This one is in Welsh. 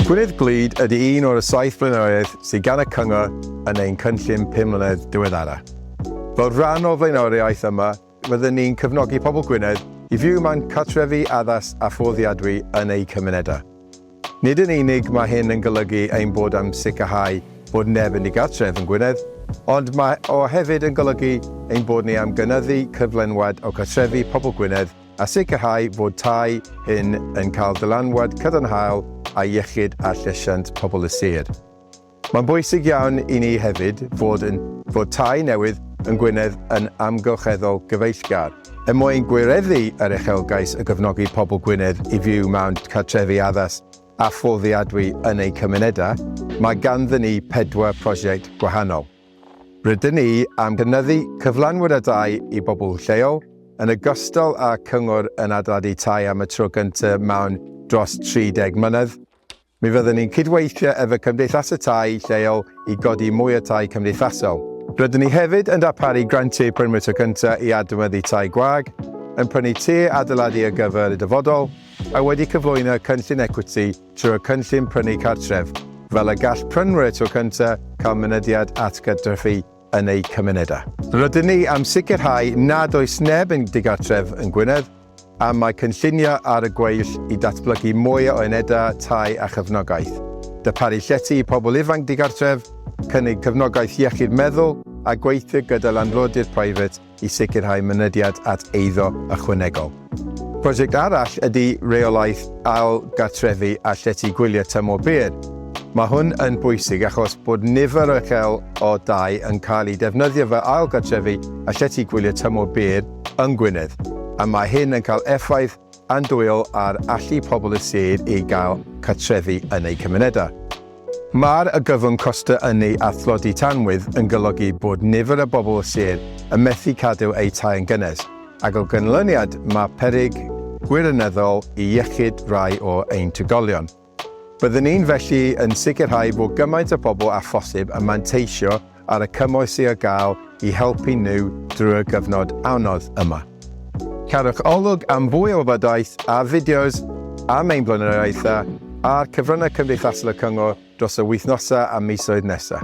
Gwynedd Glyd ydy un o'r saith blaenoriaeth sydd gan y Cyngor yn ein cynllun pum mlynedd diweddara. Fel rhan o'r flaenoriaeth yma, Rydyn ni'n cefnogi pobl Gwynedd i fyw mewn cartrefi addas a fforddiadwy yn eu cymunedau. Nid yn unig mae hyn yn golygu ein bod am sicrhau bod neb yn ddigartref yn Gwynedd, ond mae o hefyd yn golygu ein bod ni am gynyddu cyflenwad o gartrefi pobl Gwynedd a sicrhau fod tai hŷn yn cael dylanwad cadarnhaol ar iechyd a llesiant pobl y sir. Mae'n bwysig iawn i ni hefyd fod yn fod tai newydd yn Gwynedd yn amgylcheddol gyfeillgar. Er mwyn gwireddu yr uchelgais o gefnogi pobl Gwynedd i fyw mewn cartrefi addas a fforddiadwy yn eu cymunedau, mae ganddyn ni pedwar prosiect gwahanol. Rydyn ni am gynyddu cyflenwad a dai i bobl lleol, yn ogystal â cyngor yn adeiladu tai am y tro gyntaf mewn dros 30 mlynedd, Mi fyddwn ni'n cydweithio efo cymdeithasau tai lleol i godi mwy o tai cymdeithasol. Rydyn ni hefyd yn darparu grantiau Permit o Gyntaf i adnewyddu tai gwag, yn prynu tŷ adeiladu ar gyfer y dyfodol, a wedi cyflwyno cynllun ecwiti trwy'r Cynllun Prynu Cartref, fel y gall prynwyr tŷ cyntaf cael mynediad at gartrefi yn eu cymunedau. Rydyn ni am sicrhau nad oes neb yn digartref yng Ngwynedd, A mae cynlluniau ar y gweill i datblygu mwy o unedau tai a chefnogaeth, darparu llety i pobl ifanc digartref, cynnig cefnogaeth iechyd meddwl a gweithio gyda landlordydd preifat i sicrhau mynediad at eiddo ychwanegol. Prosiect arall ydy rheolaeth ail-gartrefu a llety gwyliau tymor byr. Mae hwn yn bwysig achos bod nifer uchel o dai yn cael eu defnyddio fel ail-gartrefu a llety gwyliau tymor byr yng Ngwynedd, a mae hyn yn cael effaith andwyol ar allu pobl y sir i gael cartrefi yn eu cymunedau. Mae'r argyfwng costau ynni a thlodi tanwydd yn golygu bod nifer o bobl y sir yn methu cadw eu tai yn gynnes, ac o ganlyniad mae peryg gwirionyddol i iechyd rhai o ein trigolion. Byddwn ni felly yn sicrhau bod gymaint o bobl â phosib yn manteisio ar y cymorth sydd ar gael i helpu nhw drwy'r gyfnod anodd yma. Cadwch olwg am fwy o wybodaeth a fideos am ein blaenoriaethau a'r cyfryngau cymdeithasol y Cyngor dros y wythnosau a misoedd nesaf.